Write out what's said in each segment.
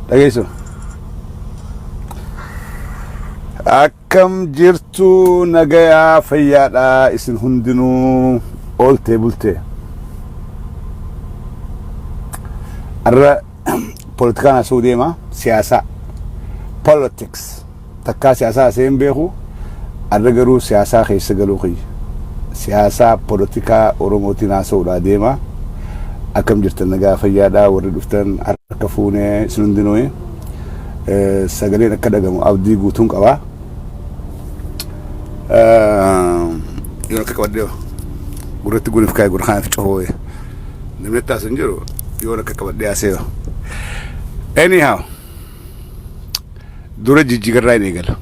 dhageessu akkam jirtu nagayaa fayyaadha isin hundinuu ooltee bultee irra politikaan asuu deema siyaasaa politics Takkaa siyaasaa hasa'ee hin beeku. Arra garuu siyaasaa keessa galuu kiyya. Siyaasaa polotikaa Oromootiin haasa'uudhaa deema. Akkam jirtan nagaa fayyaadhaa warri dhuftan harka fuune isin hundinuu. Sagaleen akka dhagamu abdii guutuun qaba. Yoon akka qabadhee gurratti gurif kaa'e gurra kanatti cofoo'e. Namni itti haasu hin jiru yoon akka qabadhee haasa'e. Anyhow. Dura jijjigarraa hin eegala.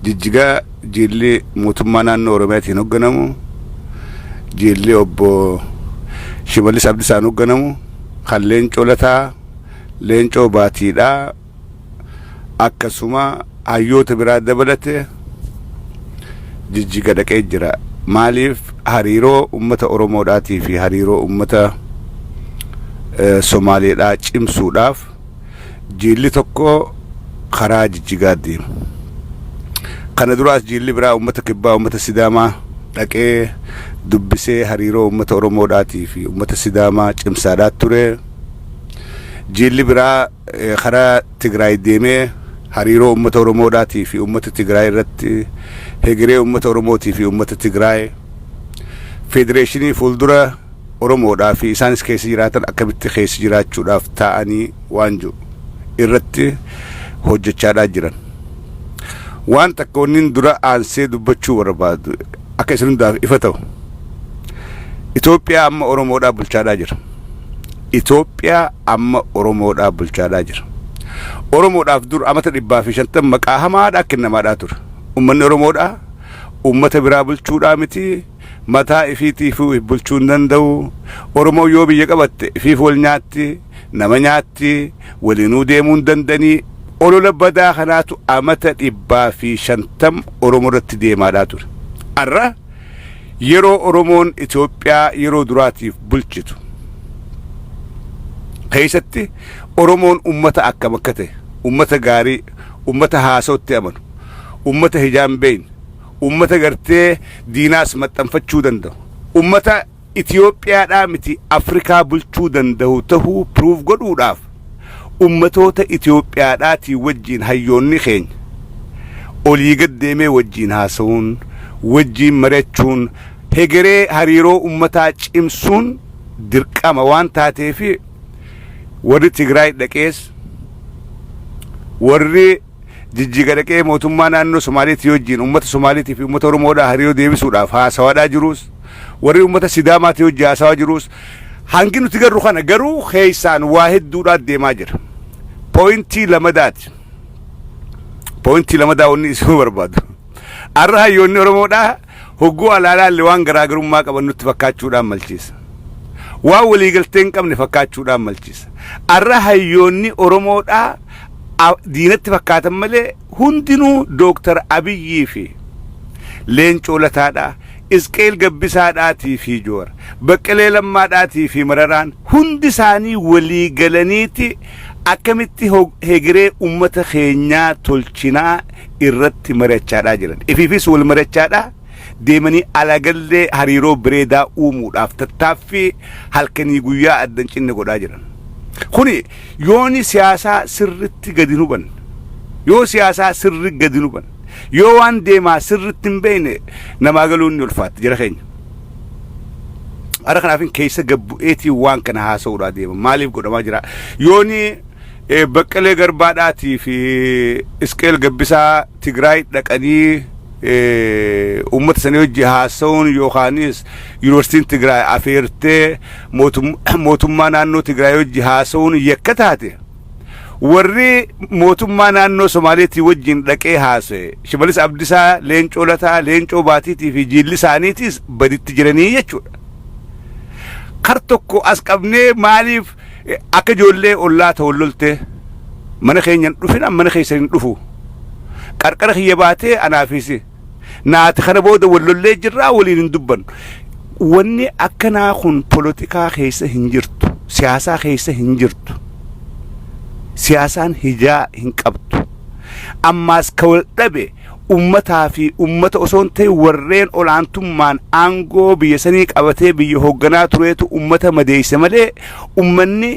Jijjigaa jeelli mootummaa naannoo Oromiyaatiin hoogganamu, jeelli obbo Shimallis Abdisaan hoogganamu, kan leencoo lataa, leencoo baatiidhaa, akkasuma hayyoota biraa dabalate jijjiga dhaqee jira. Maaliif hariiroo uummata Oromoodhaatii fi hariiroo uummata Somaaleedhaa cimsuudhaaf jiilli tokko karaa jijjigaa deemu. Kana duraas jiilli biraa uummata kibbaa uummata sidaamaa dhaqee dubbisee hariiroo uummata Oromoodhaatii fi uummata sidaamaa cimsaadhaa ture. Jiilli biraa eh, karaa Tigraay deemee hariiroo uummata Oromoodhaatii fi uummata Tigraay irratti hegeree uummata Oromootii fi uummata Tigraay federeeshinii fuuldura Oromoodhaa fi isaanis keessa jiraatan akkamitti keessa jiraachuudhaaf taa'anii waan jedhu irratti hojjechaadhaa jiran. Waan takka wannin dura aansee dubbachuu barbaadu akka isin hundaaf ifa ta'u. Itoophiyaa amma Oromoodhaa bulchaadhaa jira. Itoophiyaa amma Oromoodhaa bulchaadhaa jira. Oromoodhaaf dur amata dhibbaa fi shantam maqaa hamaadhaa kennamaadhaa ture. Ummanni Oromoodhaa ummata biraa bulchuudhaa miti Mataa ifiitiifuu if bulchuu hin danda'u. Oromoon yoo biyya qabatte ifiif wal nyaatti, nama nyaatti, waliinuu deemuu hin danda'anii. Olola badaa kanaatu amata 150 Oromoo irratti deemaadhaa ture. Ar'a yeroo Oromoon Itoophiyaa yeroo duraatiif bulchitu keessatti Oromoon ummata akkam akka ta'e, ummata gaarii, ummata haasawutti amanu, ummata hijaa hin beekne, Uummata gartee diinaas maxxanfachuu danda'u. Uummata Itiyoophiyaadhaa miti Afrikaa bulchuu danda'u ta'uu prove godhuudhaaf uummatoota Itiyoophiyaadhaatii wajjiin hayyoonni keenya olii gad deemee wajjiin haasa'uun, wajjiin mari'achuun hegeree hariiroo uummataa cimsuun dirqama waan taateefi warri Tigraay dhaqees, warri. Jijjiga dhaqee mootummaa naannoo Somaaleetii wajjin uummata Somaaleetii fi uummata Oromoodhaa hariiroo deebisuudhaaf haasawaadhaa jiruus, warri uummata Sidaamaatii wajjin haasawaa jiruus hangi nuti garru kana garuu keessaan waa hedduudhaa deemaa jira. Pooyintii lamadaati. Pooyintii lamadaa wanni isin barbaadu. Arra hayyoonni Oromoodhaa Hogguu alaa ilaalle waan garaagarummaa qaban nutti fakkaachuudhaan malchiisa. Waan waliigaltee hin qabne fakkaachuudhaan malchiisa. Arra hayyoonni Oromoodhaa a- diinatti fakkaatan malee hundinuu Dooktar Abiyyii fi Leencoo Lataadhaa, Isqeel Gabbisaadhaatii fi Joowar, Baqqalee Lammaadhaatii fi Mararaan hundi isaanii walii galaniiti akkamitti hog- hegeree uummata keenyaa tolchinaa irratti mari'achaadhaa jiran. Ifiifis wal mari'achaadhaa deemanii alaagallee hariiroo bireedaa uumuudhaaf tattaaffii halkanii guyyaa adda hin cinne godhaa jiran. Kuni yooni siyaasaa sirritti gadi hin hubanne, yoo siyaasaa sirri gadi hin hubanne, yoo waan deemaa sirritti hin beekne namaa galuun ni ulfaatti jara keenya. Ara kanaafin keessa gabbu'eetii waan kana haasa'uudhaa deema. Maaliif godhamaa jira? Yooni Baqqalee Garbaa dhaatii fi Isqeel Gabbisaa Tigraay dhaqanii uummata sanii hojii haasa'uun yookaanis yuunivarsiitiin Tigraay afeertee mootummaa naannoo Tigraay hojii haasa'uun yakka taate warri mootummaa naannoo Somaaleetii wajjin dhaqee haasa'e Shimalis Abdisaa, Leencoo Lataa, Leencoo Baatiitii fi jiilli isaaniitiis baditti jiranii jechuudha. Kar tokko as qabnee maaliif Akka ijoollee ollaa ta wal loltee mana keenya hin dhufin an mana keessan hin dhufu. Qarqara kiyya baatee anaa fi si. Naati kana booda wal lollee jirraa waliin hin dubbannu. Wanni akkanaa kun polotikaa keessa hin jirtu. Siyaasaa keessa hin jirtu. Siyaasaan hijaa hin qabdu. Ammaas ka wal dhabe ummataa fi ummata osoo hin ta'in warreen olaantummaan aangoo biyya sanii qabatee biyya hoogganaa tureetu ummata madeeyse malee ummanni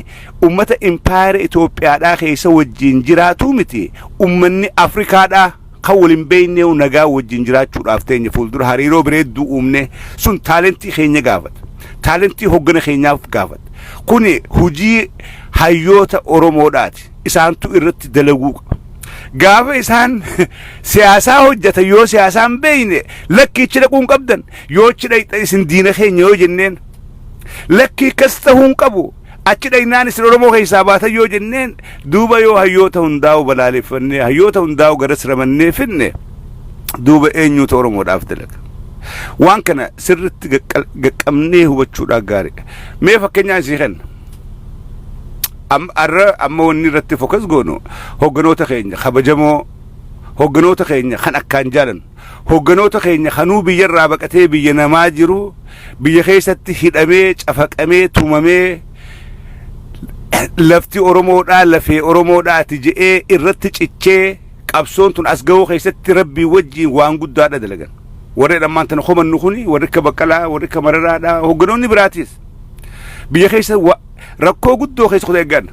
ummata impaayera Itoophiyaadhaa keessa wajjiin jiraatuu miti ummanni Afrikaadhaa kan wal hin beeyneehu nagaa wajjiin jiraachuudhaaf teenya fuuldura hariiroo bireedduu uumnee sun taalentii keenya gaafata taalentii hoggana keenyaaf gaafata kuni hujii hayyoota Oromoodhaati. isaantu irratti dalaguu qaba. Gaafa isaan siyaasaa hojjetan yoo siyaasaa hin beekne lakkii achi dhaquu hin qabdan yoo achi dhaqxan isin diina keenya yoo jenneen lakkii akkas ta'uu hin qabu achi dhaqnaan isin Oromoo keessaa baatan yoo jenneen duuba yoo hayyoota hundaa'u balaaleffannee hayyoota hundaa'u garas ramannee finne duuba eenyuutu Oromoodhaaf dalaga. Waan kana sirriitti gaqqabnee hubachuudhaan gaariidha. Mee fakkeenyaa isii kenna. Am- Har'a amma wanni irratti fokas goonu hogganoota keenya kabajamoo hogganoota keenya kan akkaan jaalan hogganoota keenya kanuu biyyarraa baqatee biyya namaa jiru biyya keessatti hidhamee cafaqamee tumamee lafti Oromoodhaa lafee Oromoodhaa ati je'ee irratti cichee qabsoon tun as ga'uu keessatti rabbii wajjiin waan guddaadha dalagan. Warri dhammaan tan homannu kuni warri akka baqqalaa warri akka mararaadhaa hogganoonni biraatis biyya keessa wa- rakkoo guddoo keessa kutee eeggan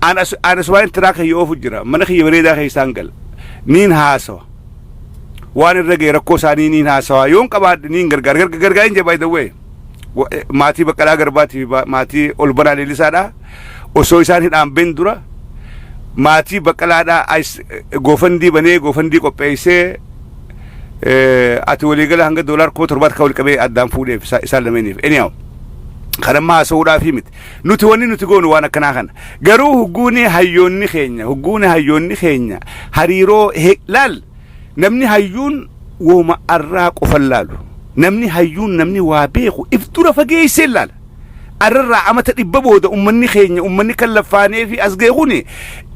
aan as- aan asumaan tiraa kiyya oofu jira mana kiyya bareedaa keessaan gala niin haasawa waan irra ga'e rakkoo isaanii niin haasawa yoon qabaadhe niin gargaara Garga- gargaara hin jabaa dawwee maatii baqqalaa garbaatii fi ba- maatii ol banaa leellisaadha osoo isaan hidhaan ben dura maatii baqqalaadhaa as- goofandii banee goofandii qopheessee ati waliigala hanga doolaar kuma torbaatti kan walqabee addaan fuudheef isaan lameeniif anyhow kan amma haasa'uudhaaf miti nuti wanni nuti goonu waan akkanaa kana garuu hugguuni hayyoonni keenya hugguuni hayyoonni keenya hariiroo laal namni hayyuun wooma arraa qofan laalu namni hayyuun namni waa beeku if dura fageessee laala Arrarraa amata dhibba booda ummanni keenya ummanni kan laffaanee fi as ga'e kun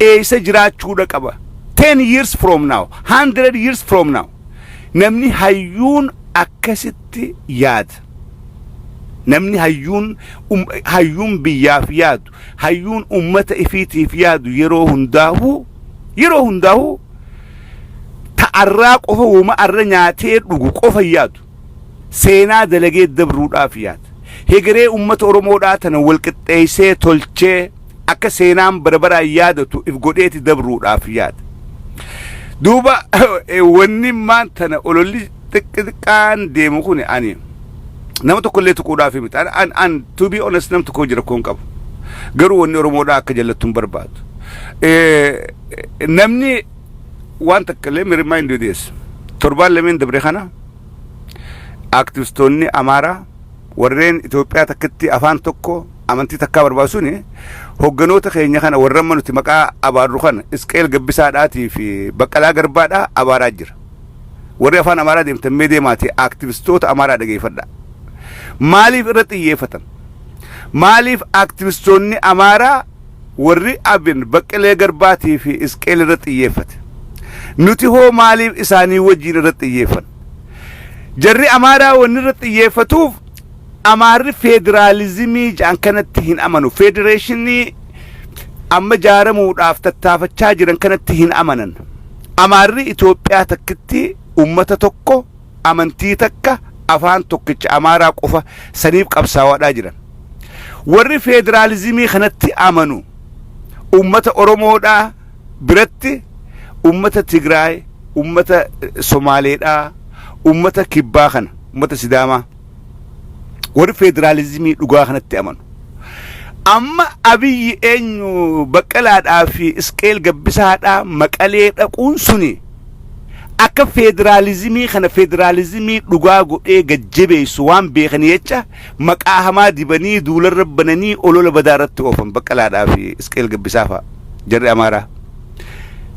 eessa jiraachuudha qaba. 10 years from now, 100 years from now. Namni hayyuun akkasitti yaada. Namni hayyuun um, hayyuun biyyaaf yaadu, hayyuun ummata ifiitiif yaadu yeroo hundaahuu yeroo hundaahuu ta arraa qofa woma arra nyaatee dhugu qofa hin yaadu. Seenaa dalagee dabruudhaaf yaad. Hegeree ummata Oromoodhaa tana walqixxeessee tolchee akka seenaan bara baraan yaadatu if godheeti dabruudhaaf yaad. Duuba wanni maan tana ololli xiqqi xiqqaan deemu kun ani nama tokkollee tuquudhaaf miti. An, an, an to be honest nam tokko jira koon qabu. Garuu wanni Oromoodhaa akka jallattu hin barbaadu. Eh, namni Waan takka let me remind you this. Torbaan lameen dabre kana aktivistoonni Amaaraa warreen Itoophiyaa takkitti afaan tokko amantii takkaa barbaadu suni hogganoota keenya kana warra amma nuti maqaa abaarru kana Isqeel Gabbisaadhaatii fi Baqqalaa Garbaadhaa abaaraa jira. Warri afaan Amaaraa deemtan mee deemaatii aktivistoota Amaaraa dhageeffadha. Maaliif irra xiyyeeffatan? Maaliif aktivistoonni Amaaraa Warri abin Baqqalee Garbaatii fi Isqeel irratti xiyyeeffate. Nuti hoo maaliif isaanii wajjiin irratti xiyyeeffanna? Jarri Amaaraa wanni irratti xiyyeeffatuuf Amaarri feediraalizimii ja'an kanatti hin amanu. Feedireeshinii amma jaaramuudhaaf tattaafachaa jiran kanatti hin amanan. Amaarri Itoophiyaa takkitti ummata tokko amantii takka afaan tokkicha Amaaraa qofa saniif qabsaawaadhaa jiran. Warri feederaalizimii kanatti amanu ummata Oromoodhaa biratti ummata Tigraay, ummata Somaaleedhaa, ummata Kibbaa kana, ummata Sidaamaa. Warri federaalizimii dhugaa kanatti amanu. Amma abiyyi eenyu baqqalaadhaa fi isqeel gabbisaadhaa maqalee dhaquun suni akka federaalizimii kana federaalizimii dhugaa godhee gajjabeessu waan beekanii jecha maqaa hamaa dibanii duularra bananii olola badaa irratti oofan baqqalaadhaa fi isqeel gabbisaa fa'a jarri amaaraa.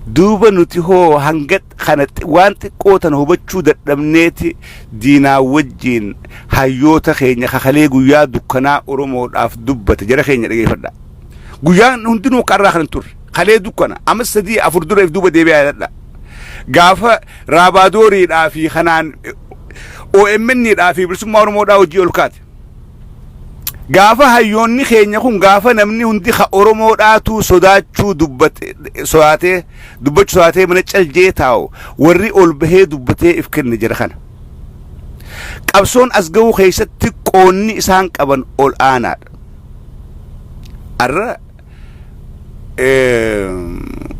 Duuba nuti hoo hanga kana waan xiqqoo tana hubachuu dadhabneeti Diinaa wajjiin hayyoota keenya ka kalee guyyaa dukkanaa Oromoodhaaf dubbate jara keenya dhageeffadhaa. Guyyaan hundinuu akka har'aa kana hin turre. Kalee dukkana. Amma sadii afur dura if duuba deebi'aa yaadadhaa. Gaafa Raabaadooriidhaa fi kanaan OMN dhaa fi bilisummaa Oromoodhaa hojii ol kaate. Gaafa hayyoonni keenya kun gaafa namni hundi ka Oromoodhaatuu sodaachuu dubbate sodaatee Dubbachu taatee mana cal jee taa'u warri ol bahee dubbatee if kenne jara kana. Qabsoon as ga'uu keessatti qoonni isaan qaban ol aanaadha. Arra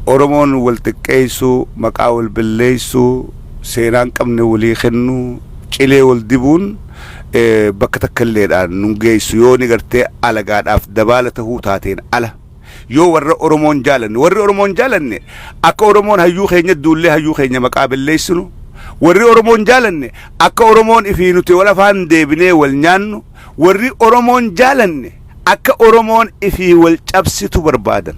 Oromoon wal xiqqeessuu, maqaa wal balleessuu, seenaan qabne walii kennuu, cilee wal dibuun bakka takka illeedhaan nun geessu yoo ni gartee alagaadhaaf dabaala tahuu taateen ala. Yoo warra Oromoon jaalanne, warri Oromoon jaalanne akka Oromoon hayyuu keenya duullee hayyuu keenya maqaa belleessinu, warri Oromoon jaalanne akka Oromoon ifii nuti wal afaan deebinee wal nyaannu, warri Oromoon jaalanne akka Oromoon ifii wal cabsitu barbaadan.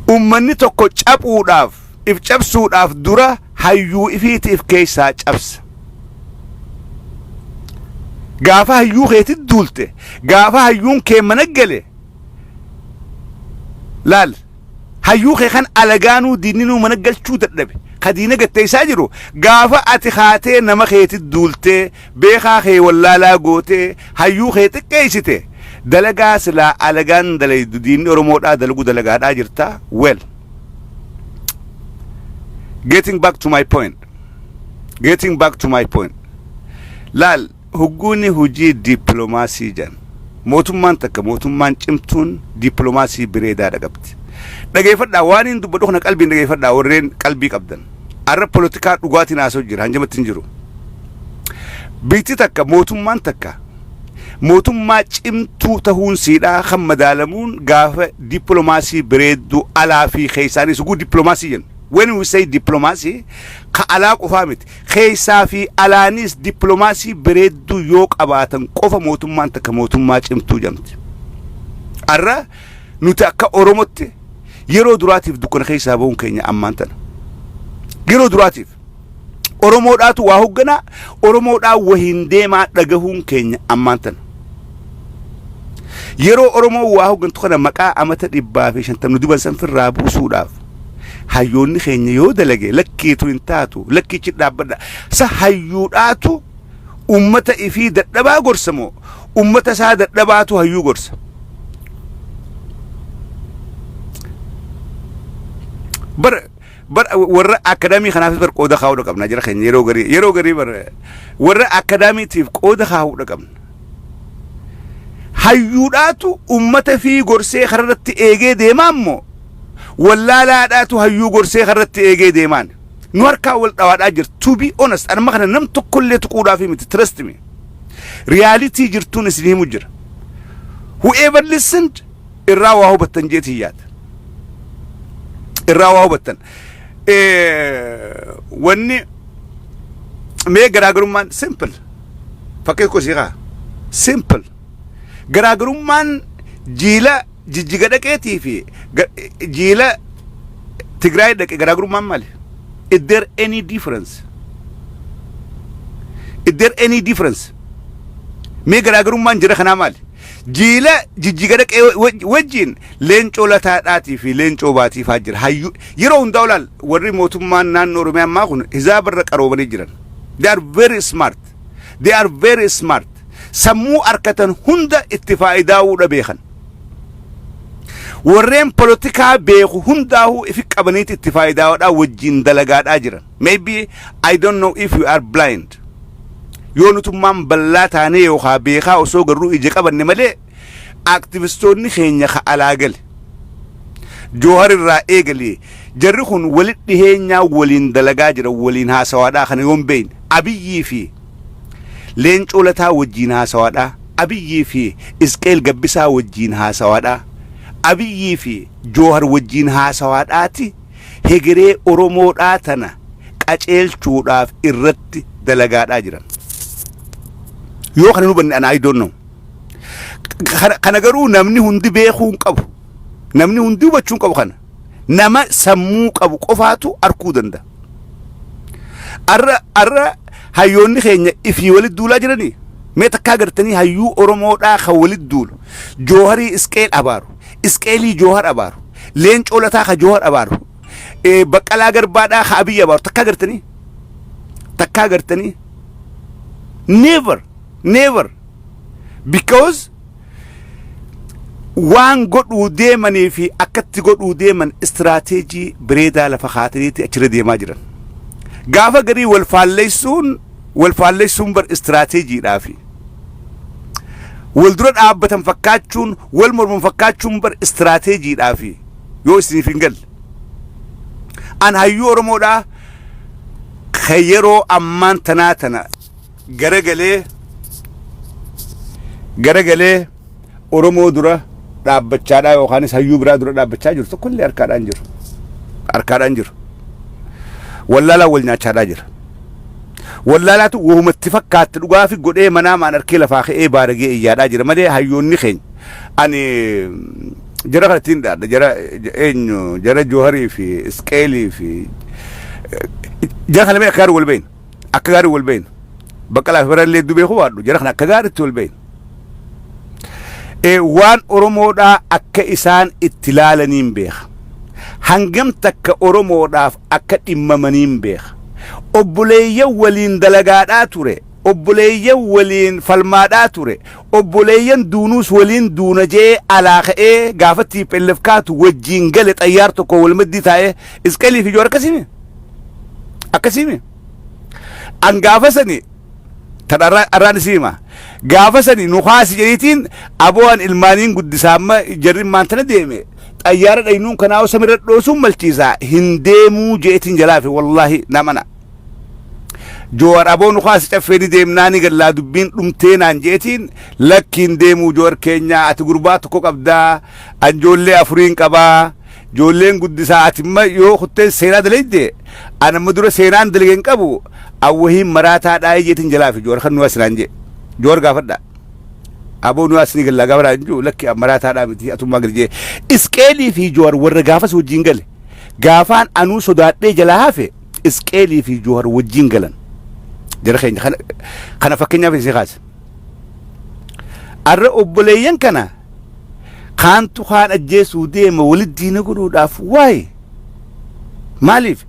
Ummanni tokko caphuudhaaf, if cabsuudhaaf dura hayyuu ifiiti if keessaa cabsa. gaafa hayyuu keetit duulte gaafa hayyuun kee mana gale laal hayyuu kee kan alagaanuu diinninuu mana galchuu dadhabe ka diina gatteessaa jiru gaafa ati kaatee nama keetit duultee beekaa kee wallaalaa gootee hayyuu kee xiqqeessite dalagaa silaa alagaan dalaydu diinni oromoodhaa dalaguu dalagaadhaa jirta well getting back to my point getting back to my point laal hugguuni hujii diippilomaasii jedhan mootummaan takka mootummaan cimtuun diippilomaasii bireedaadha qabdi dhageeffadhaa waan hin dubbadhu kana qalbiin dhageeffadhaa warreen qalbii qabdan arra polotikaa dhugaatiin haasoo jira hanjamatti hin jiru biitti takka mootummaan takka mootummaa cimtuu tahuun siidhaa kan madaalamuun gaafa diippilomaasii bireedduu alaa fi keessaanii suguu diippilomaasii jenna When we say diplomacy, ka alaa qofaa miti. Keessaa fi alaanis diplomaasii bareedduu yoo qabaatan qofa mootummaan takka mootummaa cimtuu jedhamti. Har'a nuti akka Oromotti yeroo duraatiif dukkana keessaa ba'uun keenya ammaan tana. Yeroo duraatiif. Oromoodhaatu waa hoogganaa, Oromoodhaa wahiin deemaa dhagahuun keenya ammaan tana. Yeroo Oromoo waa hooggantu kana maqaa amata dhibbaa fi shantamni duban san firraa buusuudhaaf hayyoonni keenya yoo dalage lakkiitu hin taatu lakkiichi dhaabbadha. Sa hayyuudhaatu ummata ifii dadhabaa gorsa moo ummata isaa dadhabaatu hayyuu gorsa. Bara Bar warra akadaamii kanaafis bar qooda kaa'uudha qabna jara keenya yeroo garii yeroo garii bar warra akadaamiitiif qooda kaa'uudha qabna. Hayyuudhaatu ummata fi gorsee kararratti eegee deemaa immoo wallaalaadhaatu hayyuu gorsee karratti eegee deemaan nu harkaa wal dhawaadhaa jira to be honest anuma kana nam tokkollee tuquudhaaf miti trust me reality jirtuun isin himu jira whoever listened irraa waa hubattan jeetiin yaada. Irraa waa hubattan. Wanni mee garaagarummaan simple fakkii kosii kaa simple garaagarummaan jiila jijjiga dhaqeetii fi jiila Tigraay dhaqe garaagarummaan maali? Is there any difference? Is there any difference? Mee garaagarummaan jira kanaa maali? Jiila Jijjiga dhaqee wa- wa- wajjin Leencoo Lataadhaatii fi Leencoo Baatii faa jira. Hayyuu yeroo hundaa olaal warri mootummaan naannoo Oromiyaa ammaa kun hizaaba irra qaroomanii jiran. They are very smart. They are very smart. Sammuu harkatan hunda itti faayidaa'uudha beekan. Warreen polotikaa beeku hundaa'uu ifi qabaniiti itti faayidaa'uudhaa wajjin dalagaadhaa jiran. Maybe I don't know if you are blind. Yoo nutummaan ballaa taanee yookaa beekaa osoo garruu ija qabanne malee activistoonni keenya ka alaa gale. Joohar irraa eegalee jarri kun walit dhiheenyaa waliin dalagaa jira waliin haasawaadhaa kana yoon beeyne. Abiyyii fi Leencoo Lataa wajjiin haasawaadhaa. Abiyyii fi Isqeel Gabbisaa wajjiin haasawaadhaa. Abiyyii fi Joohar wajjiin haasawaadhaati. hegeree Oromoodhaa tana qaceelchuudhaaf irratti dalagaadhaa jiran. Yoo kana hin hubanne ana I don't know. Kana, kana garuu namni hundi beekuu hin qabu. Namni hundi hubachuu hin qabu kana. Nama sammuu qabu qofaatu arguu danda'a. Arra, arra hayyoonni keenya ifii walitti duulaa jiranii? Mee takkaa gartanii hayyuu Oromoodhaa kan walitti duulu. Jooharii Isqeel abaaru. Isqeelii Joohar abaaru. Leencoo Lataa ka Joohar abaaru. Eh, Baqqalaa Garbaadhaa ka Abiyyi abaaru. Takkaa gartanii? Takkaa gartanii? Never. Never. Because waan godhuu deemanii fi akkatti godhuu deeman istiraateejii bireedaa lafa kaataniiti achirra deemaa jiran. Gaafa garii wal faalleessuun Wal faallessuun bar istiraateejiidhaa fi wal dura dhaabbatan fakkaachuun, wal morman fakkaachuun bar istiraateejiidhaa fi yoo isiniif hin galle. An hayyuu Oromoodhaa ka yeroo ammaan tanaa tana garagalee garagalee Oromoo dura dhaabbachaadhaa yookaanis hayyuu biraa dura dhaabbachaa jiru tokkollee harkaadhaan jiru. Harkaadhaan jiru. Wallaalaan wal nyaachaadhaa jira. Wallaalaatu wahumatti fakkaatti dhugaafi godhee manaa maan harkee lafaa ka'ee baaragee iyyaadhaa jira malee hayyoonni keenya. Ani jara kana ittiin dhaadha jara eenyu jara Jooharii fi Isqeelii fi jara kana mee akka wal beekna. Akka gaarii wal beekna. Baqqalaa fi Mararallee hedduu beekuu baadhu jara kana akka gaariitti wal beekna. Waan Oromoodhaa akka isaan itti laalaniin beeka. Hangam takka Oromoodhaaf akka dhimmamaniin beeka. Obboleeyyan waliin dalagaadhaa ture. Obboleeyyan waliin falmaadhaa ture. Obboleeyyan duunuus waliin duuna jee alaa ka'ee gaafa TPLF kaatu wajjiin gale xayyaar tokko wal maddii taa'ee Isqelii fi Joor akkasimi. akkasiimi an gaafa sani tan arraa- arraan isii hima gaafa sani nu kaasi jedhiitiin aboo an ilmaaniin guddisaa amma jarri maan tana deeme xayyaara dhaynuun kanaa samirra dhoosuun malchiisaa hin deemuu jeetiin jalaafi wallaahi namana joowar aboo nu kaasi caffee ni deemnaa ni gallaa dubbiin dhumtee naan jeetiin lakkiin deemuu joowar keenyaa ati gurbaa tokko qabdaa anjoollee afuriin qabaa Ijoolleen guddisaa ati imma yoo kuttee seenaa dalayde an amma dura seenaan dalage hin qabu an wahiin maraataa dhaa'ee jeetiin jalaa fi joor kan nuyaa sinaan jee joor gaafadha aboo nuyaa sinii gallaa gaafadha hin jiru lakki an maraataa dhaa miti atummaa gadi jee isqeelii fi joor warra gaafas wajjin gale gaafaan anuu sodaadhee jalaa hafe isqeelii fi joor wajjin galan jara keenya kana kana fakkeenyaaf isii kaase arra obboleeyyan kana Kaantu kaan ajjeesuu deema walit diina godhuudhaaf waay maaliif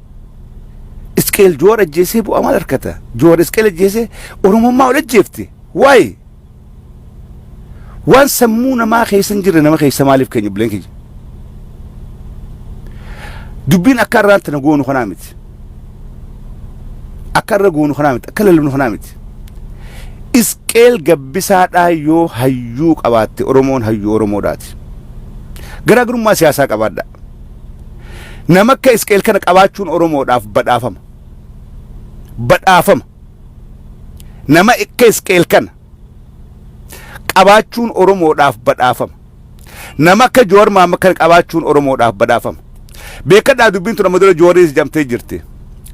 isqeel joowar ajjeesee bu'aa maal argata joowar isqeel ajjeesee oromummaa ol ajjeefte waay waan sammuu namaa keessa hin jirre nama keessa maaliif keenya bileen keenya dubbiin akka irraan tana goonu kanaa miti. akka irra goonu kanaa miti akka lallabnu kanaa miti isqeel gabbisaadhaa yoo hayyuu qabaatte oromoon hayyuu oromoodhaati garaagarummaa siyaasaa qabaadha nama akka isqeel kana qabaachuun oromoodhaaf badhaafama badhaafama nama akka isqeel kana qabaachuun oromoodhaaf badhaafama Nama akka Jawar Mahammad kana qabaachuun Oromoodhaaf badhaafama. Beekadhaa dubbiin tun amma dura Jawariinis jamtee jirti.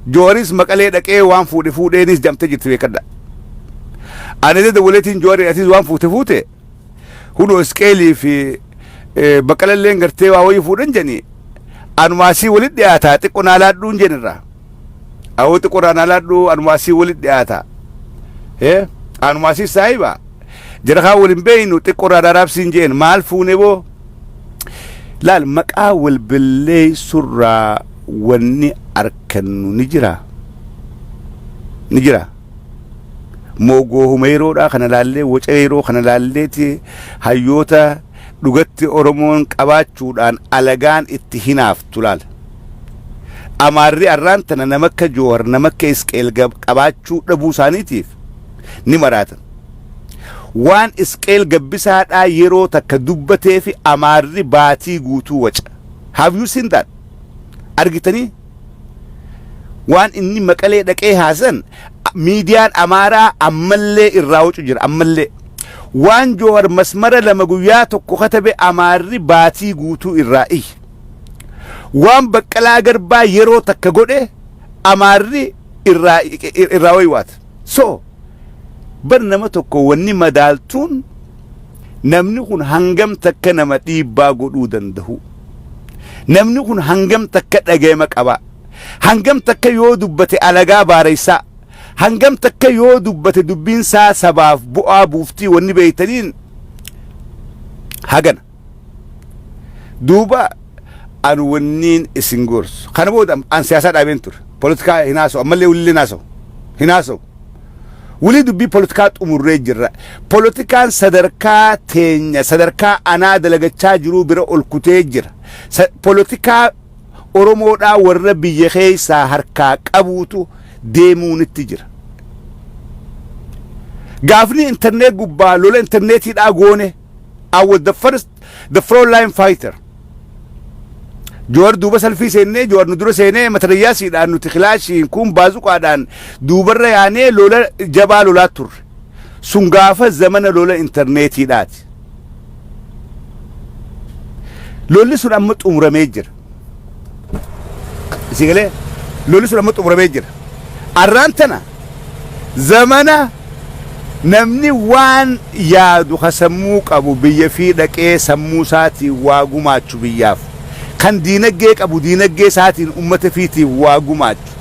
Jawariis maqalee dhaqee waan fuudhe fuudheenis jamtee jirti beekadha. Ani dada waleetiin Jawariin atis waan fuute fuute hudhoo isqeelii fi baqqalalleen gartee waa wayii fuudhan jedhanii anumaasii walit dhiyaataa xiqqo naa laadhuun jenirraa. Awuxi quraan alaadhu anumaa sii walit dhiyaata. Hee anumaa sii saahiba. Jara kaa wal hin beeynu xiqqorraa daraabsiin jeen maal fuune boo? Laal maqaa wal balleessurraa wanni arkannu ni jira. Ni jira. Moogoo humeeroodhaa kana laallee wacareeroo kana laalleeti hayyoota dhugatti Oromoon qabaachuudhaan alagaan itti hinaaf. tu laala. Amaarri arraan tana nama akka Jowar, nama akka Isqeel Gab- qabaachuu dhabuu isaaniitiif ni maraatan. Waan Isqeel Gabbisaadhaa yeroo takka dubbateefi Amaarri baatii guutuu waca. Have you seen that? Argitanii? Waan inni maqalee dhaqee haasan a- miidiyaan Amaaraa ammallee irraa wacu jira ammallee. Waan Jowar masmara lama guyyaa tokko katabe Amaarri baatii guutuu irraa iyya. Waan Baqqalaa Garbaa yeroo takka godhe Amaarri irraa irraa waywaata. So bar nama tokko wanni madaaltuun namni kun hangam takka nama dhiibbaa godhuu danda'u. Namni kun hangam takka dhaga'ama qaba. Hangam takka yoo dubbate alagaa baareessaa. Hangam takka yoo dubbate dubbiin isaa sabaaf bu'aa buuftii wanni beeytaniin hagana. duuba an wanniin isin gorsu kana booda an siyaasaa dhaabeen ture politikaa hin haasa'u ammallee wulillee hin haasa'u hin haasa'u wulii dubbii politikaa xumurree jirra politikaan sadarkaa teenya sadarkaa anaa dalagachaa jiruu bira ol kutee jira Sa- politikaa oromoodhaa warra biyya keessaa harkaa qabuutu deemuunitti jira gaafni intarneet gubbaa lola intarneetiidhaa goone I was the first the front line fighter. Jawar duuba salfii seennee Jawar nu dura seenee matarayyaasiidhaan nuti kilaashiin kun baazuqaadhaan duubarra yaanee lola jabaa lolaa turre. Sun gaafa zamana lola intarneetiidhaati. Lolli sun amma xumuramee jira. Isii galee lolli sun amma xumuramee jira. Arraan tana zamana namni waan yaadu ka sammuu qabu biyya fi dhaqee sammuu isaatiin waa gumaachu biyyaaf kan diinaggee qabu diinaggee isaatiin ummata fiitiif waa gumaachu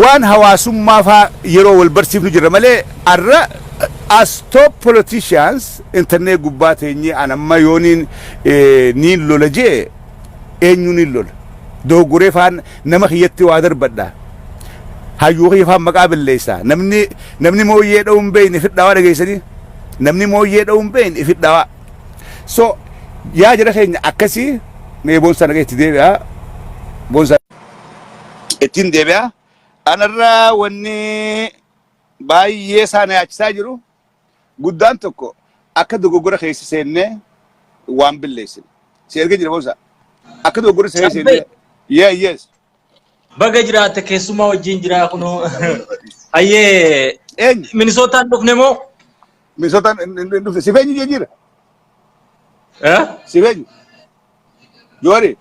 waan hawaasummaa faa yeroo wal barsiifnu jirra malee arra as top politicians internet gubbaa teenyee an amma yooniin niin lola jee eenyu niin lola dogoggoree faan nama kiyyatti waa darbadha hayyuu kiyya faan maqaa balleessa namni namni mooyyee dha'uu hin beekne fidhaawaa dhageessanii namni mooyyee dha'uu hin beekne fidhaawaa so yaa jira keenya akkasii mee boonsaa nagaa itti deebi'aa boonsaa ittiin deebi'aa anarraa wanni baay'ee isaa na yaachisaa jiru guddaan tokko akka dogoggora keessa seennee waan billeessine. Si erga jira boonsa. Akka dogoggora keessa Caffee. seennee. Yeah, yes. Baga jiraatte keessummaa wajjin jiraa kunoo. Hayyee Eenyu? Minisootaan dhufne moo? Minisootaan hin- hin- hin dhufne. Siif eenyu jijjiira? Eh? Siif eenyu? Yooni.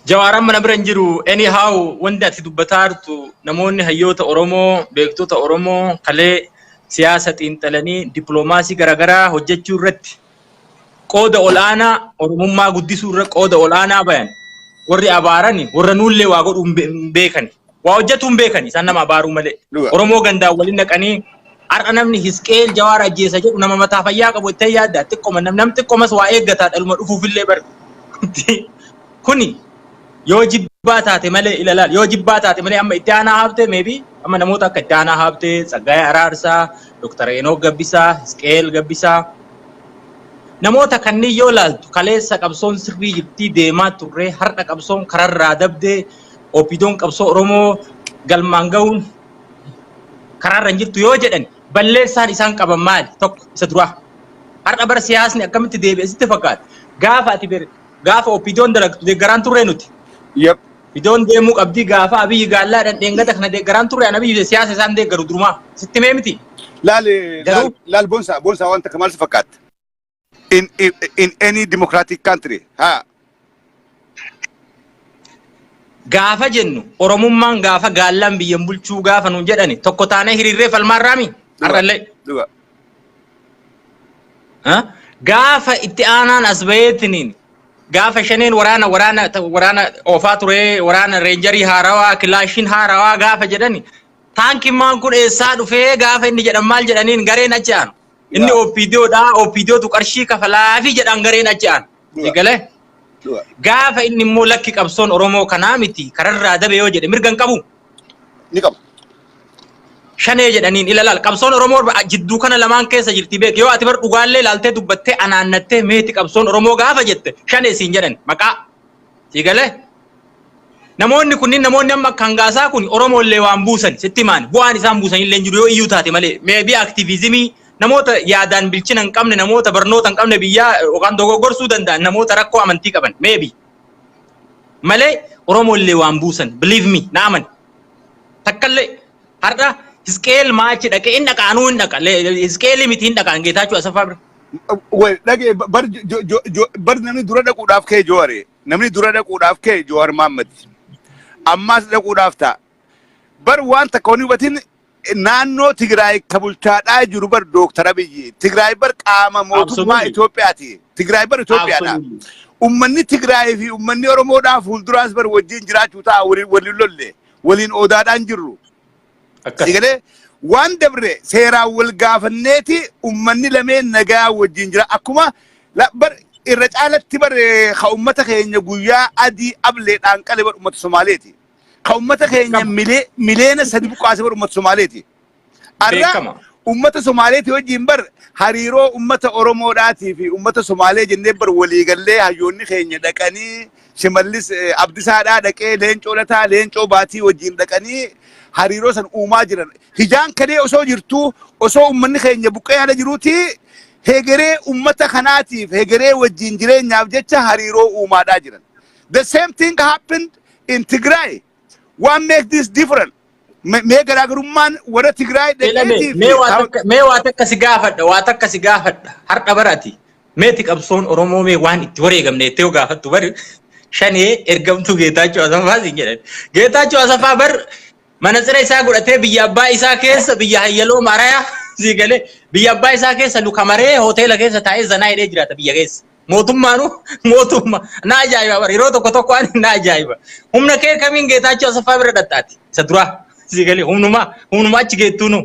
Jawaaran mana bira hin jiru. Anyhow wanti ati dubbataa jirtu namoonni hayyoota Oromoo, beektota Oromoo kalee siyaasa xiinxalanii dippiloomaasii garaagaraa hojjechuu irratti qooda ol'aanaa Oromummaa guddisuu irra qooda ol'aanaa bayan warri abaarani warra nuullee waa godhu hin beekani. Waa hojjetuu hin beekani isaan nama abaaruu malee. Dhuga. Oromoo gandaan waliin naqanii har'a namni Hisqeel Jawaar ajjeesa jedhu nama mataa fayyaa qabu itti yaadda xiqqoma nam nam xiqqomas waa eeggataa dhaluma dhufuufillee bar. Kuni yoo jibbaa taate malee ilaalaal yoo jibbaa taate malee amma itti aanaa haabtee meebi amma namoota akka itti aanaa haabtee Tsaggaayee Araarsaa, Dooktar Enoog Gabbisaa, Hisqeel Gabbisaa namoota kanneen yoo ilaaltu kaleessa qabsoon sirrii jirtii deemaa turree har'a qabsoon kararraa dabdee OPDOn qabsoo Oromoo galmaan ga'uun karaarra hin jirtu yoo jedhan balleessaan isaan qaban maali? Tokko isa duraa. Har'a bara siyaasni akkamitti deebi'e sitti fakkaata? Gaafa ati ber gaafa OPDOn dalagtu deeggaraan turree nuti. Yep. Fidoon deemuu qabdii gaafa abiyyi gaallaadhaan dheengata kana deeggaraan turre an abiyyi siyaasa isaan deeggaru durumaa sitti mee miti. Laal Garuu- laal laal bonsaa bonsaa wanta akka maal si fakkaatta? in, in, in any democratic country. Ha. Gaafa jennu Oromummaan gaafa gaallaan biyyan bulchuu gaafa nuun jedhani tokko taanee hiriirree falmaarraami Dhuga. har'allee. Dhuga. Ha? Gaafa itti aanaan as baheetiniin gaafa shaneen waraana waraana waraana oofaa ture waraana reenjarii haarawaa kilaashiin haarawaa gaafa jedhani taankimaan kun eessaa dhufee gaafa inni jedhan maal jedhaniin gareen achi aanu. Inni Dhugaa. OPDO dha, OPDO tu qarshii kafalaa fi jedhaan gareen achi aan. Dhugaa. Eegalee? Dhugaa. Gaafa inni immoo lakki qabsoon Oromoo kanaa miti kararraa dabe yoo jedhe mirga hin qabu. Ni qabu. Shanee jedhaniin ilalaal qabsoon Oromoo ba- jidduu kana lamaan keessa jirti beek yoo ati bar dhugaallee ilaaltee dubbattee anaannattee meeti qabsoon Oromoo gaafa jette shanee siin jedhan maqaa. Sii galee? Namoonni kunniin namoonni amma akka hangaasaa kun Oromoo illee waan buusan sitti himaan bu'aan isaan buusan illee hin jiru yoo iyyuu taate malee meebii aktiviizimii namoota yaadaan bilchina hin qabne namoota barnoota hin qabne biyyaa yookaan dogoggorsuu danda'an namoota rakkoo amantii qaban meebii malee Oromoo illee waan buusan believe me na amani takkallee Har'a Hisqeel maachi dhaqe hin dhaqa anuu hin dhaqa. Hisqeelii miti hin dhaqa Geetaachuu Asaffaa bira. Wal dhage bar jo- jo- jo- bar namni dura dhaquudhaaf ka'e Jowaare. Namni dura dhaquudhaaf ka'e Jowaar Maammad. Ammaas dhaquudhaaf ta'a. Bar waan takka waan hubatin naannoo Tigraay ka bulchaadhaa jiru bar Dooktar Abiyyi. Tigraay bar qaama mootummaa Absolutely. Itoophiyaati. Tigraay bar Itoophiyaadha. Absolutely. Ummanni Tigraay fi ummanni Oromoodhaa fuulduraas bar wajjin jiraachuu ta'a waliin waliin lolle. waliin oodaadhaan jirru. Akkas. Eegalee waan dabre seeraan wal gaafanneeti ummanni lameen nagaa wajjin jira. Akkuma la- bar- irra caalatti bar eh, ka ummata keenya guyyaa adii ableedhaan qale bar ummata Somaaleeti. Ka ummata keenya Qaba. milee- mileena sadi buqqaase bar ummata Somaaleeti. Arra Beekama. ummata Somaaleetii wajjin bar hariiroo ummata Oromoodhaatii fi ummata Somaalee jennee bar walii gallee hayyoonni keenya dhaqanii Shimallis eh, Abdisaadhaa dhaqee Leencoo Lataa Leencoo Baatii wajjin dhaqanii hariiroo san uumaa jiran. Hijaan kadee osoo jirtuu osoo ummanni keenya buqqee haala jiruutii hegeree ummata kanaatiif hegeree wajjin jireenyaaf jecha hariiroo uumaadhaa jiran. The same thing happened in Tigray. What makes this different? Me- Mee garaagarummaan warra Tigraay Elame, dhaqeetii mee fi waa taa- takka- mee waa takka si gaafadha, waa takka si gaafadha. Har'a bara ati meeti qabsoon Oromoo mee waan itti wareegamne jettee yoo gaafattu bari shanee ergamtuu Geetaachoo Asaffaa siin jedhan. Geetaachoo Asaffaa bar manatsira isaa godhatee biyya abbaa isaa keessa biyya hayyaloo marayaa sii galee biyya abbaa isaa keessa luka maree hoteela keessa taa'ee zanaa hidhee jiraata biyya keessa. Mootummaanu mootumma na ajaa'iba bara yeroo tokko tokko ani na ajaa'iba. Humna kee kamiin Geetaachoo Asaffaa bira dhaxxaati isa duraa si galee humnuma humnuma achi geettuunu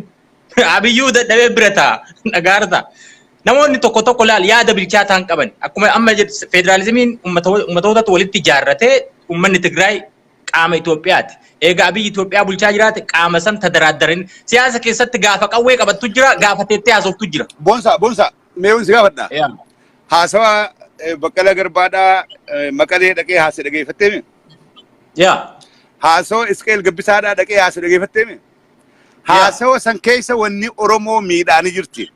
abiyyuu dadhabee bira ta'a dhagaarta. Namoonni tokko tokko laal yaada bilchaataa hin qaban akkuma amma jedhu federaalizimiin ummatootatu walitti ijaarratee ummanni Tigraay qaama Itoophiyaati. Egaa abiyyi Itoophiyaa bulchaa jiraate qaama san tadaraaddarin siyaasa keessatti gaafa qawwee qabattu jira gaafa teettee haasoftu jira. Bonsa, bonsa. Mee wanti gaafadha. Yaa. Haasawa eh, Baqqalaa Garbaadhaa eh, Maqalee dhaqee haase dhageeffattee mi? Yaa. Haasawa Isqeel Gabbisaadhaa dhaqee haase dhageeffattee mi? Haasawa san keessa wanni Oromoo miidhaanii jirti.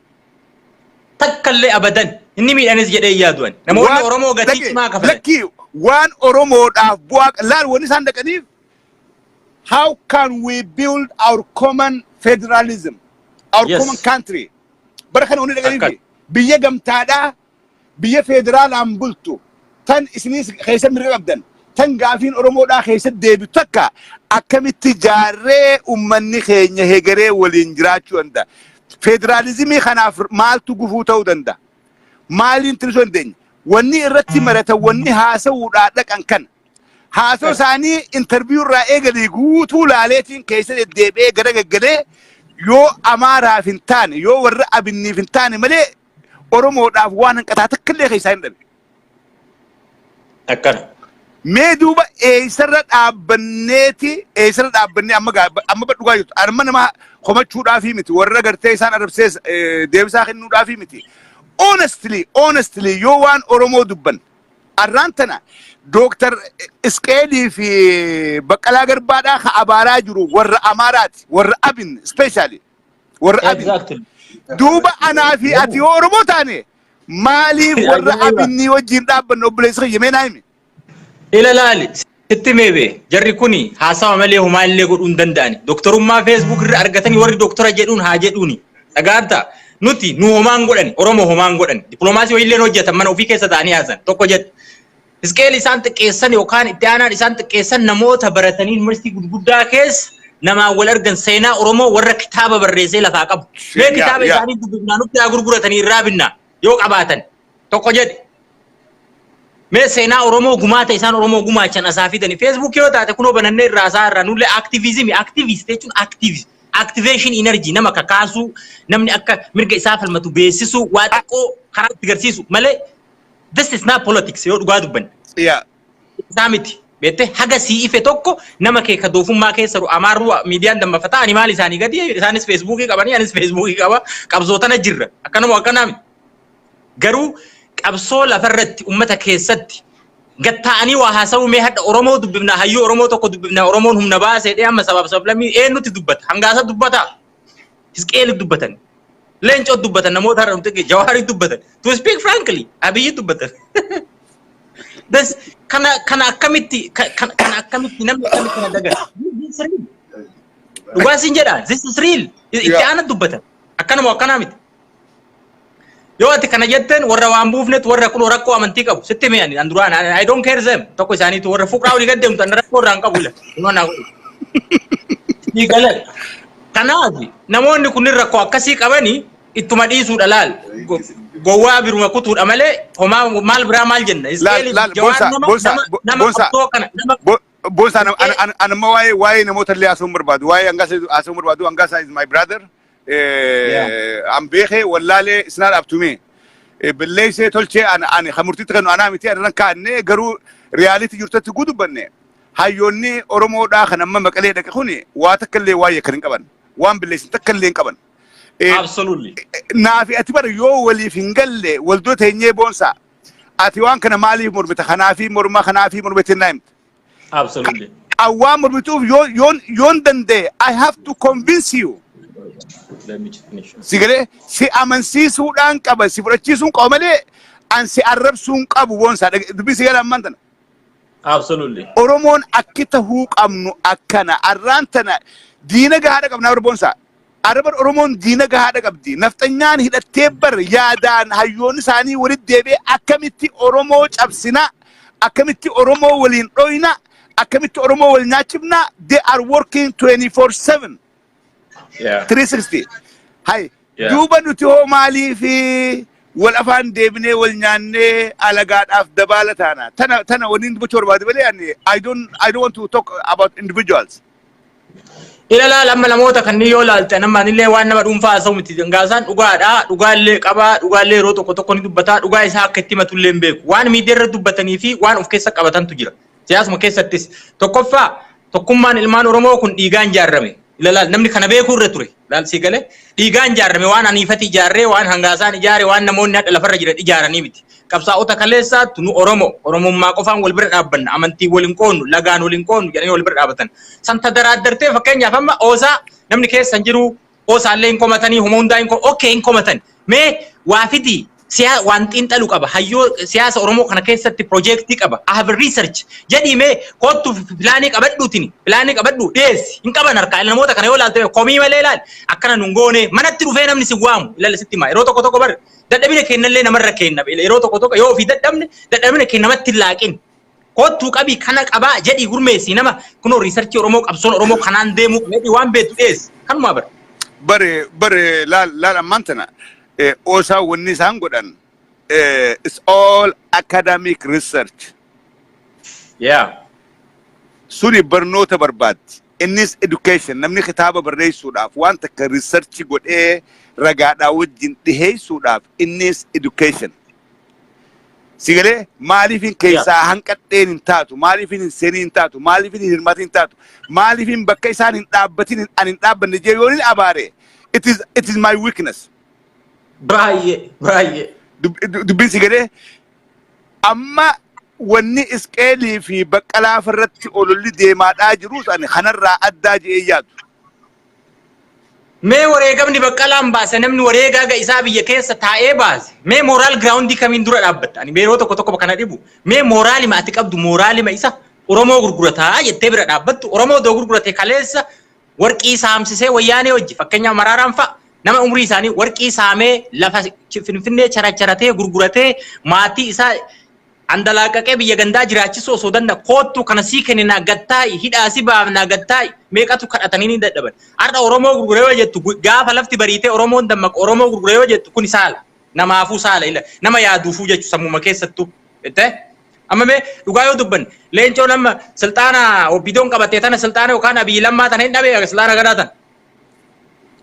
Takkallee abadan. Inni miidhanis jedhee hin yaadu ani. Namoonni Waan- Oromoo gatii dhaqe- cimaa kafalan. Lakkii waan Oromoodhaaf bu'aa qa- laal wanni isaan dhaqaniif how can we build our common federalism, our Yes. common country. Bara kana wanni dhaganii Akkas. fi biyya gamtaadhaa biyya federaalaan bultu tan isiniis keessa mirga qabdan tan gaafiin Oromoodhaa keessa deebitu takka akkamitti jaarree ummanni keenya hegeree waliin jiraachuu danda'a. Federaalizimii kanaaf maaltu gufuu ta'uu danda'a? Maaliin tirisuu dandeenya? Wanni irratti maratan wanni haasa'uudhaa dhaqan kana. Haasoo isaanii interviyuu irraa eegalee guutuu laaleetiin keessa deddeebi'ee gara gaggalee yoo Amaaraaf hin taane yoo warra Abinniif hin taane malee Oromoodhaaf waan hanqataa takka illee keessaa hin dhabe. Akkana. Mee duuba eessarra dhaabbanneeti eessarra dhaabbannee amma gaa- amma dhugaa jirtu amma nama komachuudhaafii miti warra gartee isaan arabsee deebisaa kennuudhaafii miti. Honestly honestly yoo waan Oromoo dubban Arraan tana Dooktar Isqeelii fi Baqqalaa Garbaadhaa ka abaaraa jiru warra Amaaraati. Warra Abin ispeeshaali. Warra Abin. Exactly. Duuba anaa fi ati yoo Oromoo taane maaliif warra Ajaa'iba. Abinnii wajjin dhaabbanna obboleessa kiyya mee naa himi. Ila laali. Sitti himee bee jarri kuni haasawa malee homaa illee godhuu hin danda'ani. Doktorummaa Facebook irra argatanii warri doktora jedhuun haa jedhuuni. Dhaga'atta? Nuti nu homaa hin godhani. Oromoo homaa hin godhani. Diplomaasii wayii illee hin hojjetan mana ofii keessa ta'anii haasan. Tokko jedha. Hisqeel isaan xiqqeessan yookaan itti aanaan isaan xiqqeessan namoota baratanii yuunivarsiitii gurguddaa keessa namaan wal argan seenaa Oromoo warra kitaaba barreessee lafaa qabu. Mee Seenaa, kitaaba yaa. isaanii dubbifnaa nutti haa gurguratanii irraa binnaa yoo qabaatan. tokko jedhi. Mee seenaa Oromoo gumaata isaan Oromoo gumaachan asaa fidani. Feesbuukii yoo taate kunoo banannee irraa asaa irraa nullee aktiviizimii aktiviist jechuun aktiivis aktiveeshin inarjii nama kakaasuu namni akka mirga isaa falmatu beeksisuu waa xiqqoo karaa itti garsiisu malee this is not politics yoo dhugaa dubbanne. Siyaa. isaa miti. Beettee haga sii ife tokko nama kee ka doofummaa keessa jiru amaarruu miidiyaan dammafata ani maal isaanii gadi isaanis feesbuukii qabanii anis feesbuukii qaba qabsootana jirra akkanuma akkanaa miti. Garuu qabsoo lafarratti ummata keessatti gad taa'anii waa haasa'uu mee hadha Oromoo dubbifnaa hayyuu Oromoo tokko dubbifnaa Oromoon humna baase jedhee amma sabaaf sablammii eenyutti dubbata hangaasa dubbata Hisqeeli dubbatan leencoo dubbatan namoota har'a nuti dhageenye, jawaarii dubbatan to speak frankly abiyyi dubbatan. Das kana kana akkamitti ka- kana kana akkamitti namni akkamitti kana daga dhugaa siin jedha this is real itti Yeah. aana dubbatan akkanuma akkanaa miti. Yoo ati kana jetteen warra waan buufnetu warra kunoo rakkoo amantii qabu sitti hime ani an duraan ani- I don't care them tokko isaaniitu warra fuqraa olii gad deemtu ani rakkoo irraa hin qabu ila. Kunoo naa godhu. Ni galan. Kanaaf namoonni kunniin rakkoo akkasii qabanii ittuma dhiisuudha laal. Go- Gowwaa biruma kutuudha malee homaa maal biraa maal jenna. Laal, Iskeelii laal, jawaan Boonsaa, nama Boonsaa, nama Bo- nama Boonsaa. qabsoo kana nama Bo- Boonsaa, an- an- an- anamma waa'ee waa'ee namoota illee haasawuu hin barbaadu. Waa'ee hangaasa haasawuu hin barbaadu. Hangaasa is my brother. an beekee wallaalee isnaa dhaabtumee balleessee tolchee ani kan murtiitti kennu anaa miti ani rakkaannee garuu riyaaliitti jirtutti guu dubbanne hayyoonni Oromoodhaa kan amma maqalee dhaqe kuni waa takka illee waa'ee kan hin qaban waan balleessin takka illee hin qaban. Absolutely. Naafi ati bara yoo waliif hin galle waldoo teenyee boonsaa ati waan kana maaliif mormita kanaafi morma kanaafi morma itti hin naayimta. Absolutely. Awwaan murmituuf yoo- yoon yoon danda'e I have to convince you. Let me just finish. Si galee si amansiisuudhaan qaba si fudhachiisuun qaba malee an si arrabsuun qabu boonsaa Dhage- dubbii si galee ammaan tana. Absolutely. Oromoon akki tahuu qabnu akkana arraan tana diina gahaadha qabnaa warra boonsaa. Ara bar Oromoon diina gahaadha qabdi. Nafxanyaan hidhattee bar yaadaan hayyoonni isaanii walitti deebi'ee akkamitti Oromoo cabsina, akkamitti Oromoo waliin dhoyna, akkamitti Oromoo wal nyaachifna, they are working 24/7, Yeah. 360. Hay, Yeah. duuba nuti hoo maaliifi wal afaan deebinee wal nyaannee alagaadhaaf dabaala taana. Tana, tana waliin dubbachuu barbaade malee ani, I don't, I don't want to talk about individuals. Ilalaal amma namoota kanneen yoo ilaalte nama anillee waan nama dhuunfaa haasa'u miti dangaasaan dhugaadha dhugaallee qabaa dhugaallee yeroo tokko tokko ni dubbataa dhugaa isaa akka itti himatullee hin beeku waan miidiyaa irra dubbatanii fi waan of keessa qabatantu jira siyaasuma keessattis tokkoffaa tokkummaan ilmaan oromoo kun dhiigaan jaarrame ilalaal namni kana beekuu irra ture Laal sii galee dhiigaan ijaarame waan aniifati ijaarree waan hangaasaan ijaare waan namoonni hadha lafarra jiran ijaaranii miti. Qabsaa'ota kaleessaattu nu Oromoo Oromummaa qofaan wal bira dhaabbanna amantiin wal hin qoonnu lagaan wal hin qoonnu jedhanii wal bira dhaabatan. San tadaraaddartee fakkeenyaaf amma oosaa namni keessa hin jiruu oosaallee hin komatanii homa hundaa hin ok hin komatani. Mee waa fidii siyaa waan xiinxalu qaba hayyoo siyaasa Oromoo kana keessatti piroojeektii qaba I have research jedhii mee koottu pilaanii qabadhuutiin pilaanii qabadhu dhiyeessi hin qaban harkaa namoota kana yoo ilaalte komii malee ilaali akkana nun goone manatti dhufee namni si waamu ilaala sitti himaa yeroo tokko tokko bar dadhabina keennallee namarra keenna yeroo tokko tokko yoo ofii dadhabne dadhabina keenna namatti hin laaqin Koottuu qabii kana qabaa jedhii gurmeessii nama kunoo riisarchii Oromoo qabsoon Oromoo kanaan deemuu qaba jedhii waan beektu dhiyeessi. Kanumaa bara. bare bare laal laal ammaan tana eh, osaa wanni isaan godhan eh, it's all academic research Yeah. suni barnoota barbaaddi innis education namni kitaaba barreessuudhaaf waan takka research godhee ragaadhaa wajjin dhiheessuudhaaf innis education Si galee maaliifin keessaa hanqadheen hin taatu, maaliifin hin seenin hin taatu, maaliifin hin hirmaatin hin taatu, maaliifin bakka isaan hin dhaabbatin hin- ani hin dhaabbanne jee yoon hin abaare, it is, it is my weakness. Baay'ee baay'ee. Dub- dub- Dubbiin si galee amma wanni isqeelii fi baqqalaa irratti ololli deemaadhaa jirus ani kanarraa addaa je'ee yaadu. Mee wareegamni baqqalaan baase namni wareegaa ga isaa biyya keessa taa'ee baase mee mooraal giraawundii kamiin dura dhaabbatta ani yeroo tokko tokko kana dhibu mee mooraalima ati qabdu mooraalima isa Oromoo gurgurataa jettee bira dhaabbattu Oromoo doo gurgurate kaleessa warqii saamsisee wayyaanee hojji fakkeenyaa maraaraan fa'a nama umrii isaanii warqii saamee lafa finfinnee characharatee gurguratee maatii isaa Andalaaqaqee biyya gandaa jiraachisuu osoo danda'a koottu kana sii kenninaa gad taa'i hidhaa si baafnaa gad taa'i meeqatu kadhatanii ni dadhaban. Har'a Oromoo gurgure yoo jettu gaafa lafti bariitee Oromoon dammaqu Oromoo gurgure yoo jettu kuni saala. Namaafuu saala ila nama yaaduufuu jechu sammuma keessattu itte amma mee dhugaa yoo dubbanne leencoon amma silxaana OPDOn qabattee tana silxaana yookaan Abiy Lammaa tana hin dhabee silxaana gadaa tana.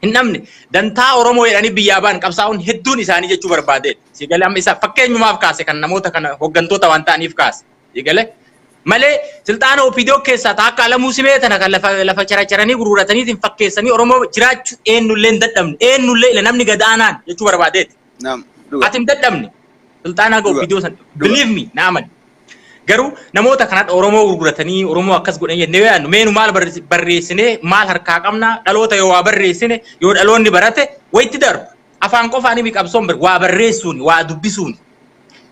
hin dhabne dantaa Oromoo jedhanii biyyaa ba'an qabsaa'uun hedduun isaanii jechuu barbaade si galee amma isa fakkeenyumaaf kaase kan namoota kana hooggantoota waan ta'aniif kaase si galee malee silxaana OPDO keessaa taa akka alamuu simee tana kan lafa lafa characharanii gurgurataniitiin fakkeessanii Oromoo jiraachuu eenyullee hin dadhabne eenyullee ila namni gad aanaan jechuu barbaadeeti. Naam. Dhuga. Ati hin dadhabne. Sulxaanaa ga'u Dhuga. viidiyoo san. Dhuga. Believe me, na amani. Garuu namoota kanadha Oromoo gurguratanii Oromoo akkas godhan jennee yoo yaadnu meenu maal barre- barreessinee maal harkaa qabna dhaloota yoo waa barreessine yoo dhaloonni barate wayitti darba. Afaan qofaan himi qabsoon bar- waa barreessuuni waa dubbisuuni.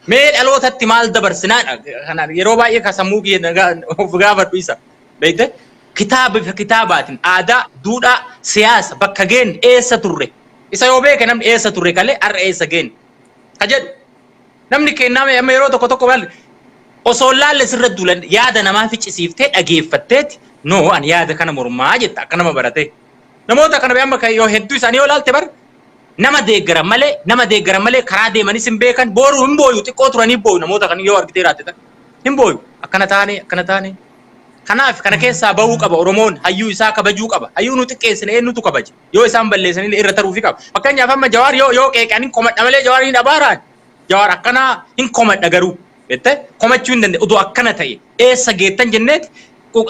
Mee dhalootatti maal dabarsinaadha kanaan yeroo baay'ee ka sammuu kiyya na gaa- of gaafadhu isa. Beekte? Kitaaba bifa kitaabaatiin aadaa, duudhaa, siyaasa bakka geenne eessa turre Isa yoo beeke namni eessa turre kalee har'a eessa geenne ka jedhu namni kennaa mee amma yeroo tokko tokko maal osoo hin laalle sirra duulan yaada namaa ficcisiiftee dhageeffatteeti noo ani yaada kana mormaa jetta akka nama baratee. Namoota kana amma kan yoo hedduu isaanii yoo laalte bar nama deeggaran malee nama deeggaran malee karaa deemanis hin beekan booruu hin booyu xiqqoo turanii booyu namoota kan yoo argitee raatte tan hin booyu akkana taane akkana taane. Kanaaf kana keessaa bahuu qaba Oromoon hayyuu isaa kabajuu qaba hayyuu nu xiqqeessine eenyutu kabaja. yoo isaan balleessanillee irra taruufi qaba. Fakkeenyaaf amma Jawaar yoo yoo qeeqan hin komadha malee Jawaar hin abaaraan. Jawaar akkanaa hin komadha garuu jettee komachuu hin danda'e. Odoo akkana ta'e eessa geettan jenneeti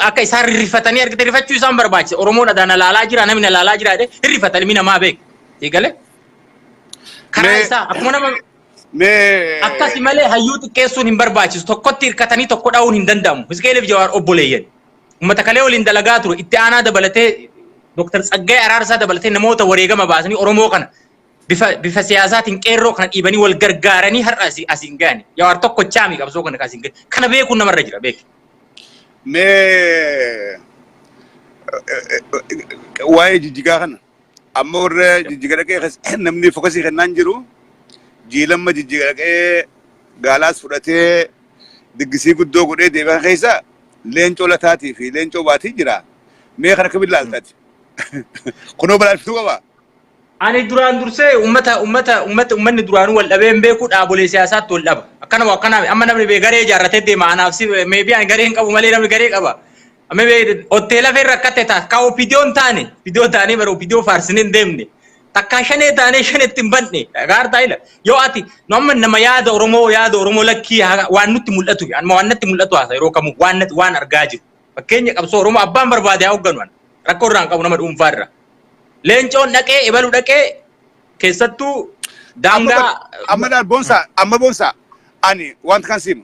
akka isaan rifatanii argite rifachuu isaan barbaachisa. Oromoon adaa na laalaa jira namni na laalaa jira jedhee hin rifata ilmi namaa beeku. Eegalee karaa Mee- isaa akkuma nama Mee akkasi malee hayyuu xiqqeessuun hin barbaachisu. Tokkotti hirkatanii tokko dha'uun hin danda'amu. Hisqeeliif Jawaar obboleeyyan. Uummata kalee waliin dalagaa ture itti aanaa dabalatee Dr. Tsaggaayee Araarsaa dabalatee namoota wareegama baasanii Oromoo kana bifa bifa siyaasaatiin qeerroo kana dhiibanii wal gargaaranii har'a asi- asiin ga'ani. Jawaar tokko chaami qabsoo kana asiin ga'e. Kana beekuun namarra jira beeki. Mee eh, eh, eh, waa'ee jijjigaa kana Amma warra jijjiga dhaqee kas- namni fokasii kennaan jiru jiilamma jijjiga dhaqee gaalaas fudhatee diggisii guddoo godhee deebi'an keessa leencoo lataatii fi leencoo baatii jira. Mee kan akkamiin laaltati? Kunoo balaalftuu qaba. Ani duraan dursee ummata ummata ummata ummanni duraanuu wal dhabee hin beeku dhaabolee siyaasaatti wal dhaba. Akkana moo akkana amma namni bee garee ijaarratee deema anaaf si meebii ani garee hin qabu malee namni garee qaba. Hoteela fee rakkatte taas ka opidiyoo hin taane opidiyoo taanee bara opidiyoo faarsinee hin deemne takkaa shanee taanee shanetti hin banne gaartaa ila yoo ati nu amma nama yaada oromoo yaada oromoo lakkii waan nutti mul'atu anuma waan natti mul'atu haasa yeroo kamuu waan natti waan argaa jiru fakkeenya qabsoo oromoo abbaan barbaade haa hoogganu ana rakkoo irraa hin qabu nama dhuunfaa irraa leencoon dhaqee ebalu dhaqee keessattuu daangaa amma boonsaa amma boonsaa ani wanta kan simu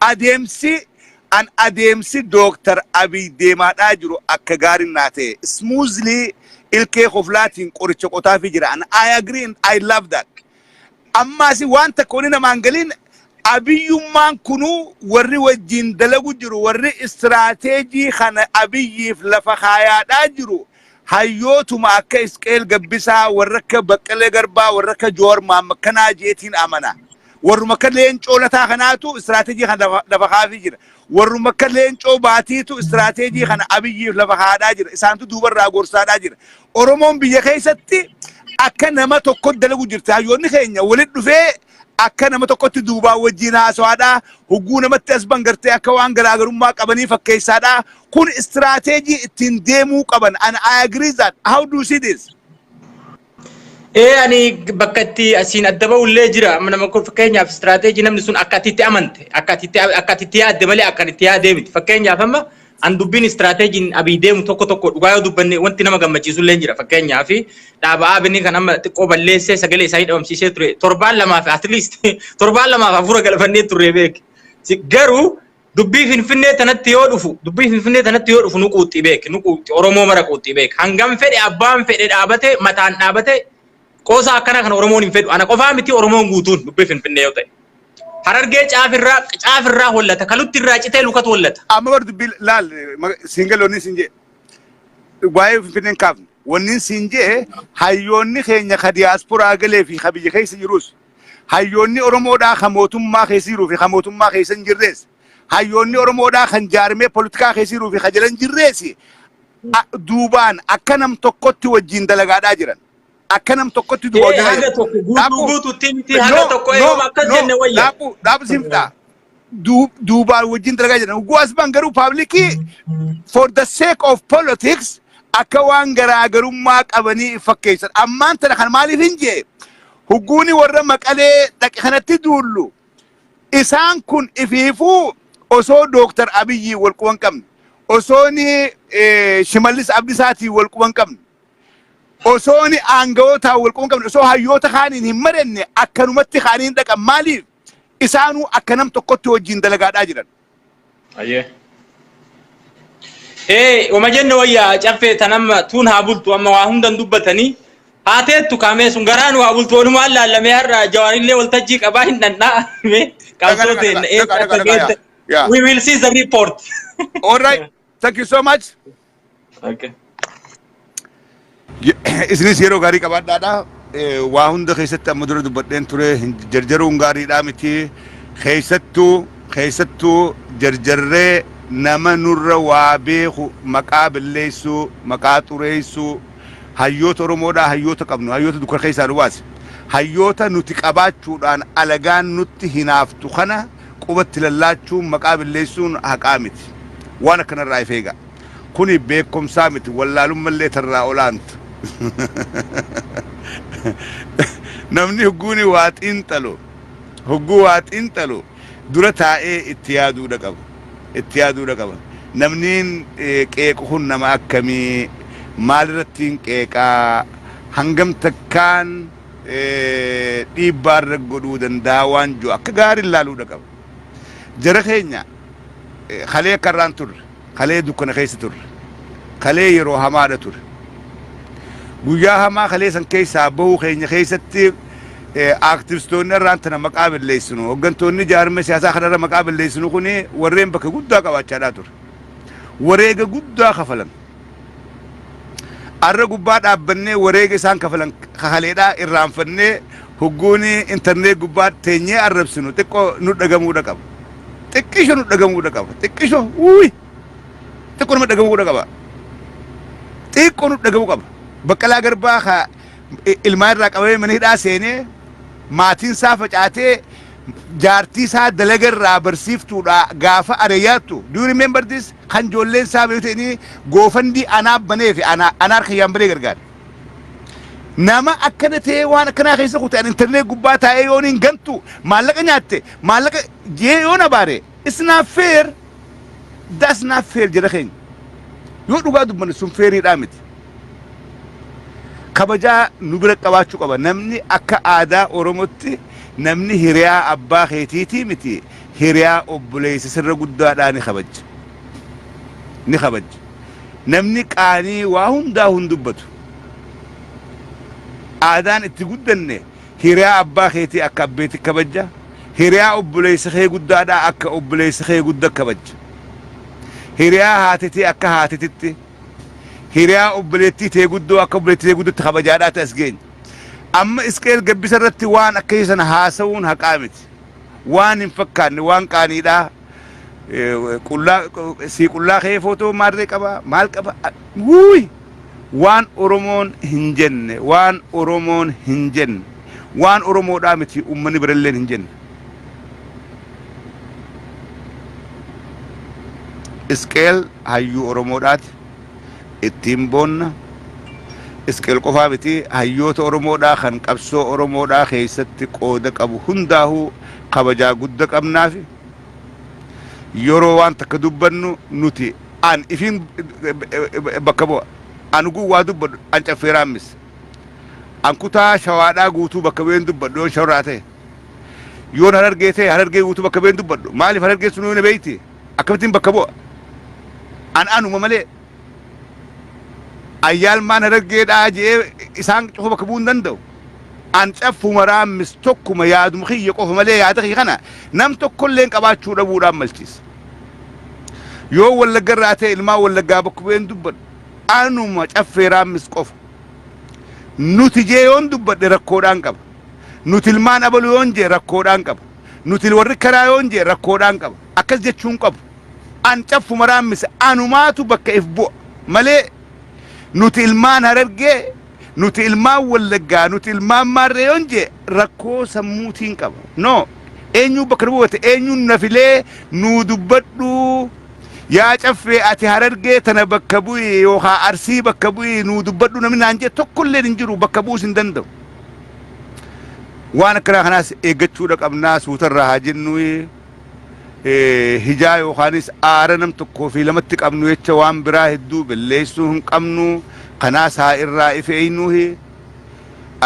Adeemsi an adeemsi Dr. Abiy deemaadhaa jiru akka gaarin naa ta'e. Smoothly ilkee koflaatiin qoricha qotaafii jira. And I agree and I love that. Ammaasi waan takka wani namaan galiin Abiyyummaan kunuu warri wajjiin dalagu jiru warri istiraateejii kana Abiyyiif lafa kaayaadhaa jiru Hayyootuma akka Isqeel Gabbisaa, warra akka Baqqalee Garbaa, warra akka Joowar Mohaammed kanaa jeetiin amana. Warruma akka Leencoo Lataa kanaatu istiraateejii kana lafa- lafa kaafii jira. Warruma akka Leencoo Baatiitu istiraateejii kana Abiyyiif lafa kaadhaa jira. Isaantu duubarraa gorsaadhaa jira. Oromoon biyya keessatti akka nama tokko dalagu jirti. Hayyoonni keenya walitti dhufee Akka nama tokkotti duubaan wajjiin haasawaadha. Hogguu namatti as bahan gartee akka waan garaagarummaa qabanii fakkeessaadha. Kun istiraateejii ittiin deemuu qaban. And I agree that. How do you see this? Ee ani bakka itti asiin adda bahu illee jira. Amma nama kun fakkeenyaaf istiraateejii namni sun akka ati itti amante, akka ati itti akka ati itti yaadde malee akka ani itti yaadee miti. Fakkeenyaaf amma An dubbiin istiraateejiin Abiy deemu tokko tokko dhugaa yoo dubbanne wanti nama gammachiisu illee jira. Fakkeenyaaf dhaaba ABN kan amma xiqqoo balleessee sagalee isaanii dhabamsiisee ture torbaan lamaaf at least torbaan lamaaf hafuura galfannee turre beek. Garuu dubbii Finfinnee tanatti yoo dhufu dubbii Finfinnee tanatti yoo dhufu nu quuxxi beek nu quuxxi Oromoo mara quuxxi beek hangam fedhe abbaan fedhe dhaabate mataan dhaabate Qoosaa akkana kana Oromoon hin fedhu. Ana qofaa miti Oromoon guutuun dubbii Finfinnee yoo ta'e. Harargee caafirraa caafirraa hollata. Kalutti irraa citee lukatu hollata. Amma bar dubbii laal siingal wanni siin jee. Waa'ee Finfinneen kaafne. Wanni siin jee hayyoonni keenya ka diyaasporaa galee fi ka biyya keessa jirus. Hayyoonni Oromoodhaa ka mootummaa keessa jiruu fi ka mootummaa keessa hin jirrees. Hayyoonni Oromoodhaa kan jaarmee politikaa keessa jiruu fi ka jala hin jirrees. Duubaan akka nam tokkotti wajjin dalagaadhaa jiran. akka nam tokkotti duba Ee hojii haga fayyadama. tokko guutuu Daakuu guutuutti miti no haga tokko no eeyuma akkas no jenne wayya. daakuu daakuu siin fixaa. Du- duubaan wajjin dalagaa jedhan ugguu asbaan garuu paablikii for the sake of politics akka waan garaagarummaa qabanii fakkeessan ammaan tana kan maaliif hin jee hugguuni warra maqalee dhaqe kanatti duullu isaan kun ifiifuu osoo dooktar abiyyi walquban qabne osoo ni eh, shimallis abdisaatii walquban qabne Osoon aanga'ootaan wal quunqamne, osoo hayyoota kaaniin hin maranne akkanumatti ka'anii hin dhaqan. Maaliif? Isaanuu akka nam tokkotti wajjin dalagaadhaa jiran. Ayyee. Ee uma jenne wayya caffee tan amma tuun haa bultu amma waa hundan dubbatanii haa teettu kaamee sun garaan waa bultu walumaan laallamee har'a jawaarillee waltajjii qabaa hin dhandhaa mee qabsoo teenna eessa akka geette we will see the report. All right. Thank you so much. Okay. Isinis yeroo gaarii qabaadhaadha. Eh, Waa hunda keessatti amma dura dubbadheen ture hin jarjaruun gaariidhaa miti. Keessattuu keessattuu jarjarree nama nurra waa beeku maqaa balleessuu maqaa xureessuu hayyoota Oromoodhaa hayyoota qabnu hayyoota dukkana keessaa nu baase. Hayyoota nuti qabaachuudhaan alagaan nutti hinaaftu kana quba itti lallaachuun maqaa billeessuun haqaa miti. Waan akkana irraa if eegaa. Kuni beekkomsaa miti wallaalumma illee tarraa olaanta. Namni hogguuni waa xiinxalu, hogguu waa xiinxalu dura taa'ee itti yaaduudha qaba. Itti yaaduudha qaba. Namniin qeequ kun nama akkamii? Maalirrattiin qeeqaa? Hangam takkaan? dhiibbaa irra godhuu danda'a waan jiru akka gaariin laaluudha qaba. Jara keenya kalee akka irraan turre, kalee dukkana keessa turre, kalee yeroo hamaadha ture. Guyyaa hamaa kalee san keessaa bahuu keenya keessatti aaktivistoonni irraan tana maqaa balleessinu, hooggantoonni jaarmee siyaasaa kanarra maqaa balleessinu kuni warreen bakka guddaa qabaachaadhaa ture. Wareega guddaa kafalan. Arra gubbaa dhaabbannee wareega isaan kafalan ka kaleedhaa irraanfannee hogguun intarnee gubbaa teenyee arrabsinu xiqqoo nu dhagamuudha qaba. Xiqqisho nu dhagamuudha qaba. Xiqqisho wuuy xiqqoo nama dhagamuudha qaba. Xiqqoo nu dhagamu qaba. Baqqalaa garbaa ka i- ilmaa irraa qabamee mana hidhaa seenee maatiin isaa facaatee jaartii isaa dalaga irraa barsiiftuudha gaafa areeyaattu. Do you remember this? Kan joolleen isaa beekte inni goofandii anaa banee fi anaa anaa harka yaan banee gargaare. Nama akkana ta'ee waan akkanaa keessa kute an intarneet gubbaa taa'ee yoon hin gantu maallaqa nyaatte maallaqa jee yoon abaare it's not fair that's not fair jara keenya. Yoo dhugaa dubbanne sun feeriidhaa miti. Kabajaa nu bira qabaachuu qaba namni akka aadaa Oromootti namni hiriyaa abbaa keetiitii miti. Hiriyaa obboleessa sirra guddaadhaa ni kabajja. Ni kabajja. Namni qaanii waa hundaa hin dubbatu. Aadaan itti guddanne hiriyaa abbaa keetii akka abbeetti kabajja. Hiriyaa obboleessa kee guddaadhaa akka obboleessa kee gudda kabajja. Hiriyaa haatetii akka haatetitti. Hiriyaa obboleettii tee guddoo akka obboleettii tee guddatti kabajaadhaati as geenye. Amma Isqeel gabbisa irratti waan akkasii sana haasa'uun haqaa miti. waan hin fakkaanne waan qaaniidha qullaa sii qullaa kee footoo maarree qaba maal qaba wuuy waan oromoon hin jenne waan oromoon hin jenne waan oromoodhaa miti uummanni biralleen hin jenne isqeel hayyuu oromoodhaati ittiin boonna. Isqeel qofaa miti hayyoota Oromoodhaa kan qabsoo Oromoodhaa keessatti qooda qabu hundaahuu kabajaa gudda qabnaafi. Yeroo waan takka dubbannu nuti an ifiin bakka bu'a. An uguun waa dubbadhu an caffeeraan mis. An kutaa shawaadhaa guutuu bakka bu'een dubbadhu yoon shawraa ta'e. Yoon harargee ta'e harargee guutuu bakka bu'een dubbadhu. Maaliif harargeen sunuu na beeyti? akkamittiin bakka bu'a? An anuma malee ayyaalmaan harargeedhaa je'ee isaan cufa bakka bu'uu hin danda'u. An caffuma raammis tokkuma yaaduma kiyya qofa malee yaada kiyya kana nam tokkolleen qabaachuu dhabuudhaan malchiisa. Yoo wallagga irraa ta'e ilmaan wallaggaa bakka bu'een dubbadhu anuma caffee raammis qofa. Nuti jee yoon dubbadhe rakkoodhaan qaba. Nuti ilmaan abaluu yoon jee rakkoodhaan qaba. Nuti warri karaa yoon jee rakkoodhaan qaba. Akkas jechuu hin qabu. An caffuma raammisa. Anumaatu bakka if bu'a. Malee nuti ilmaan Harargee, nuti ilmaan Wallaggaa, nuti ilmaan Maarree yoon jee rakkoo sammuutiin qaba. No. Eenyuu bakka nu buufate, eenyuun na filee nuu dubbadhuu. Yaa caffee ati Harargee tana bakka bu'i yookaa Arsii bakka bu'i nuu dubbadhuu namni naan jee tokkolleen hin jiru bakka bu'uus hin danda'u. Waan akkanaa kanaas eeggachuudha qabnaa suutarraa haa jennu hijaa yookaanis aara nam tokkoo fi lamatti qabnu jecha waan biraa hedduu belleessuu hin qabnu kanaas haa irraa if eeynuuhi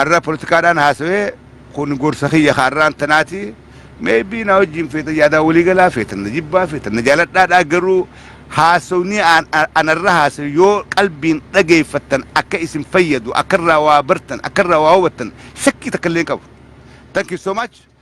arra politikaadhaan haasawee kun gorsa kiyya ka arraan tanaati. Maybe na wajjin feetan yaadaa walii galaa feetan na jibbaa feetan na jaaladhaadhaa garuu haasofni an- an- anarra haasa'e yoo qalbiin dhageeffattan akka isin fayyadu akkarraa waa bartan akkarraa waa hubattan shakkii takka illee hin qabu. Thank you so much.